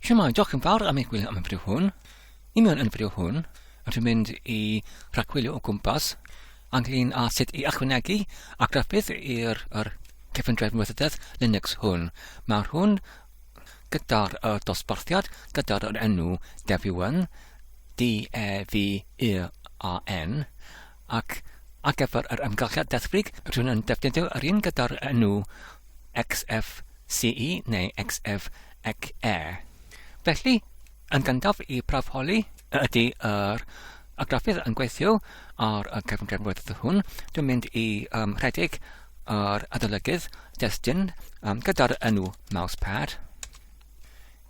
Shwmae, diolch yn fawr am eich gwylio am y fideo hwn. I mewn yn y fideo hwn, rydyn mynd i rhagwylio o gwmpas ynglyn â sut i ychwanegu a graffudd i'r er, cyfundrefn weithrededd Linux hwn. Mae'r hwn gyda'r uh, dosbarthiad, gyda'r enw Devuan, D-E-V-U-A-N, ac ar gyfer yr amgylchedd deddfwrig rydyn yn defnyddio yr un gyda'r enw XFCE neu XFCE. Felly, yn gyntaf i braf holi y ydy yr argraffydd yn gweithio ar y cefngrynfwyrdd hwn, dwi'n mynd i um, rhedeg yr adolygydd destun um, gyda'r enw mousepad.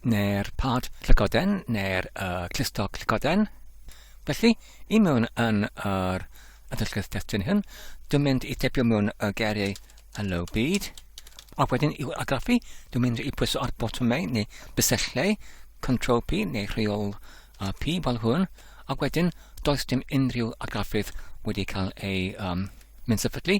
neu'r pad llygoden neu'r uh, clustog llygoden. Felly, i mewn yn yr adolygedd testyn hyn, dwi'n mynd i tepio mewn y geriau hello byd, a wedyn i'w agraffu, dwi'n mynd i pwyso ar botymau neu bysellau, control P neu rheol uh, P fel hwn, a wedyn does dim unrhyw argraffydd wedi cael ei um, mynd sefydlu,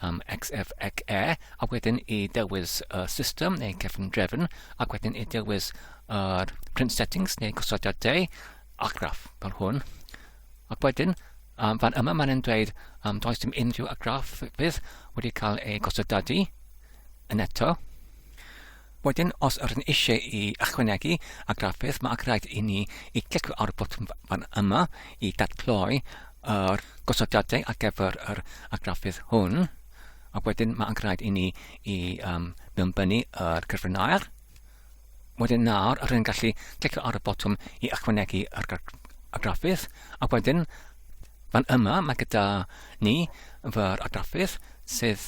am XF ac E, a wedyn i dewis y system neu cefn drefn, ac wedyn i dewis yr print settings neu gosodiad deu, argraff fel hwn. Ac wedyn, um, fan yma mae'n dweud um, does dim unrhyw argraff fydd wedi cael ei gosodadu yn eto. Wedyn, os ydyn eisiau i ychwanegu argraffiad, mae angenrhaid i ni i glicio ar y botwm fan yma i datgloi yr gosodiadau ar gyfer yr argraffiad hwn, a wedyn mae angenrhaid i ni i um, mewnbynnu yr cyfrin aer. Wedyn nawr, rydyn ni'n gallu clicio ar y botwm i ychwanegu ar graffydd, a wedyn fan yma mae gyda ni fy'r argraffydd sydd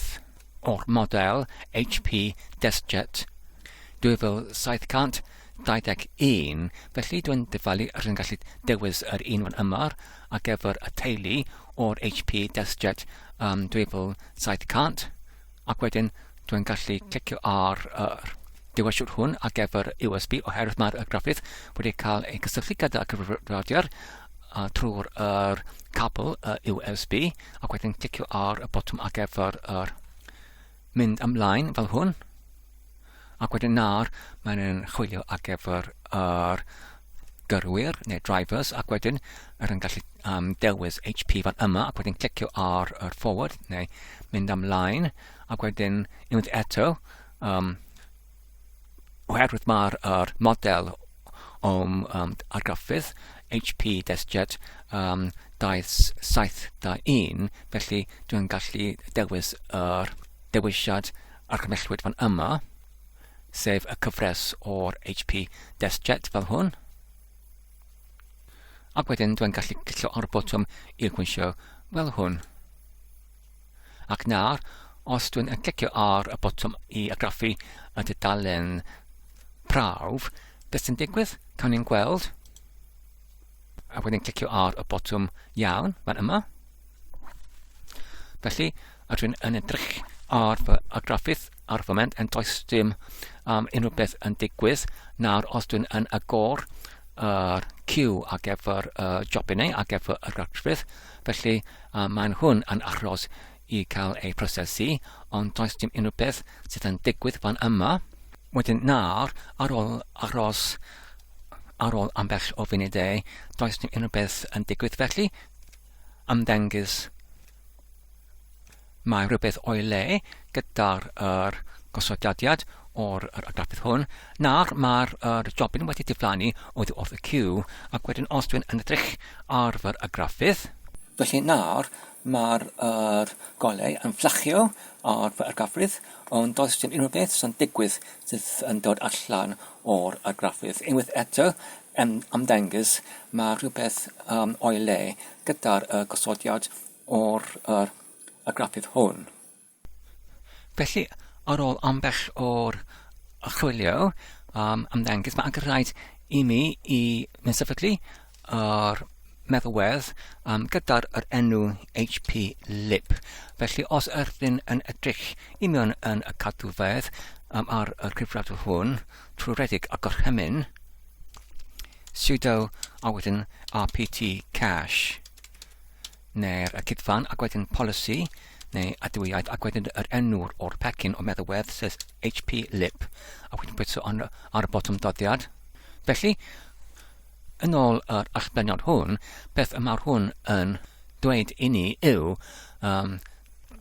o'r model HP DeskJet 2721, felly dwi'n dyfalu ar yn gallu dewis yr un fan yma ar gyfer y teulu o'r HP DeskJet um, 2700 ac wedyn dwi'n gallu clicio ar yr uh, dewisiwr hwn ar gyfer USB oherwydd mae'r graffydd wedi cael ei gysylltu gyda cyfrifiadur uh, trwy'r er cabl uh, USB ac wedyn clicio ar y botwm ar gyfer yr mynd ymlaen fel hwn ac wedyn nawr mae'n yn chwilio ar gyfer yr gyrwyr neu drivers ac wedyn yr yn gallu um, dewis HP fan yma ac wedyn clicio ar yr forward neu mynd ymlaen ac wedyn unwaith eto um, oherwydd mae'r er model o'm um, argraffydd HP DeskJet um, 2721, felly dwi'n gallu dewis yr dewisiad argymellwyd fan yma, sef y cyfres o'r HP DeskJet fel hwn. Ac wedyn dwi'n gallu cillo ar y botwm i'r gweithio fel hwn. Ac nawr, os dwi'n clicio ar y botwm i argraffu y dudalen prawf, beth sy'n digwydd? Cawn ni'n gweld. A wedyn clicio ar y botwm iawn, fan yma. Felly, a dwi'n yn edrych ar fy argraffydd ar y foment yn does dim um, unrhyw beth yn digwydd. Nawr, os dwi'n yn agor yr uh, cyw ar gyfer y uh, jobinau, ar gyfer yr argrafydd, felly a maen nhw'n yn achros i cael eu prosesu, ond does dim unrhyw beth sydd yn digwydd fan yma. Wedyn nawr, ar ôl achros ar ôl ambell o funudau, does dim unrhyw beth yn digwydd felly, ymddengys mae rhywbeth o'i le, gyda'r yr gosodiad o'r yr grafydd hwn. Nawr mae'r yr jobyn wedi diflannu oddi wrth y cyw ac wedyn os dwi'n yn edrych ar fy y grafydd Felly nawr mae'r er, golau yn fflachio ar fy argrafydd, ond does dim unrhyw beth sy'n digwydd sydd yn dod allan o'r argrafydd. Unwaith eto, yn ymddengys, mae rhywbeth um, o'i le gyda'r uh, gosodiad o'r er, argrafydd hwn. Felly, ar ôl ambell o'r chwilio am ymddengys, mae angen rhaid i mi i mynd sefydlu yr meddalwedd um, gyda'r yr enw HP Lib. Felly, os ydyn yn edrych i mewn yn y cadwfedd um, ar y cyfrifiadur hwn, trwy redeg a gorchymyn, sudo a wedyn rpt cache. neu'r y cydfan ac wedyn polisi neu adwyaid ac wedyn yr enw o'r pecyn o meddalwedd sef HP lip a wedyn bwyta ar, ar y botwm doddiad. Felly, yn ôl yr allbleniad hwn, beth y mae'r hwn yn dweud i ni yw um,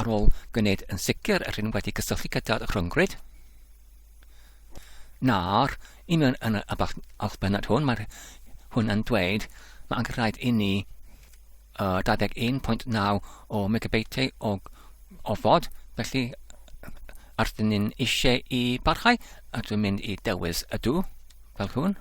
ar ôl gwneud yn sicr yr hyn wedi cysylltu gyda'r rhyngrwyd. Nawr, i mewn yn y allbennod hwn, mae hwn yn dweud mae angen rhaid i ni uh, 21.9 o megabeitiau o ofod, felly ar dyn ni'n eisiau i barhau, a dwi'n mynd i dewis ydw, fel hwn.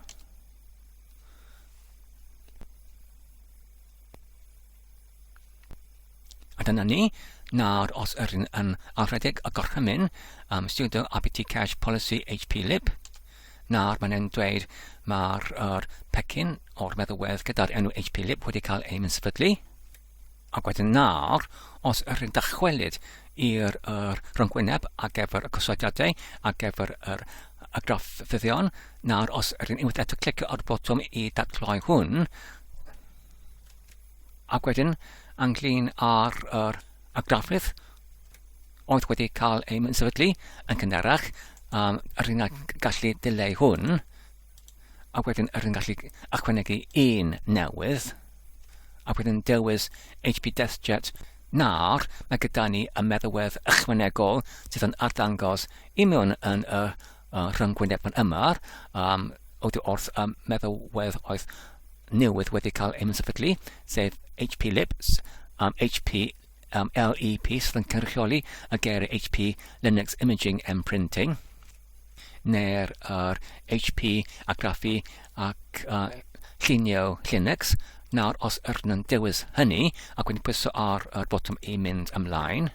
A dyna ni. Nawr, os yr un yn anrhedeg y gorchymyn am um, studio ABT cache policy HP lib, nawr mae'n e'n dweud mae'r er, pecyn o'r meddywedd gyda'r enw HP lib wedi cael ei mynsefydlu. Ac wedyn nawr, os yr un dychwelyd i'r er, rhyngwyneb ar gyfer y cosodiadau, ar gyfer yr er, y graff fyddion, nawr os yr un unwaith eto clicio ar y botwm i datgloi hwn, Ac wedyn, ynglyn â'r er, y grafydd oedd wedi cael ei sefydlu yn cynharach, um, yr un gallu dileu hwn, ac wedyn yr un gallu ychwanegu un newydd, ac wedyn dewis HP DeskJet nawr, mae gyda ni y meddywedd ychwanegol sydd yn arddangos i mewn yn y uh, rhyngwyneb yn yma, um, oddi wrth um, meddalwedd oedd newydd wedi cael ei sefydlu, sef HP Libs, um, HP um, LEP sydd yn cynrychioli y geiriau HP Linux Imaging and Printing, neu'r er HP Agraffu ac uh, Llunio Linux. Nawr, os ydyn nhw'n dewis hynny, ac wedyn pwyso ar y botwm i mynd ymlaen,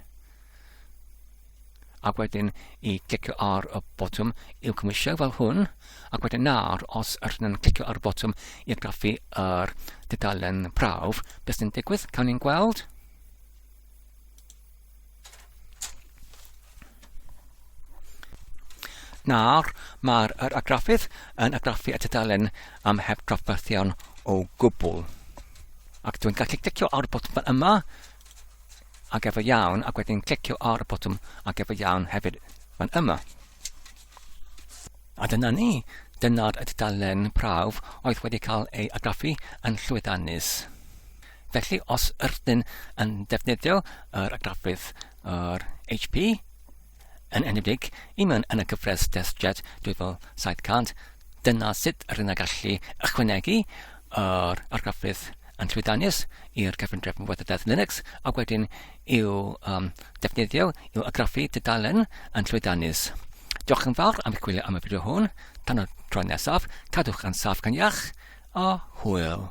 ac wedyn i clicio ar y botwm i'w cymwysio fel hwn ac wedyn nawr os ydyn nhw'n clicio ar y botwm i graffu yr dudalen prawf beth sy'n digwydd cawn ni'n gweld Nawr, mae'r er agraffydd yn agraffu y tudalen am heb drafferthion o gwbl. Ac dwi'n gallu clicio ar y botwm yma Ag efe iawn ac wedyn clicio ar y botwm ag efe iawn hefyd fan yma. A dyna ni, dyna'r y dudalen prawf oedd wedi cael ei agraffu yn llwyddiannus. Felly os ydyn yn defnyddio yr agraffydd yr HP, yn enwedig i mewn yn y gyfres DeskJet 2700, dyna sut rydyn ni'n gallu ychwanegu yr argraffu yn llwyddiannus i'r cyfundrefn yn wybodaeth Linux ac wedyn i'w um, defnyddio i'w agraffu dudalen yn llwyddiannus. Diolch yn fawr am eich gwylio am y fideo hwn. Tan y tro nesaf, cadwch yn saff gan iach a hwyl.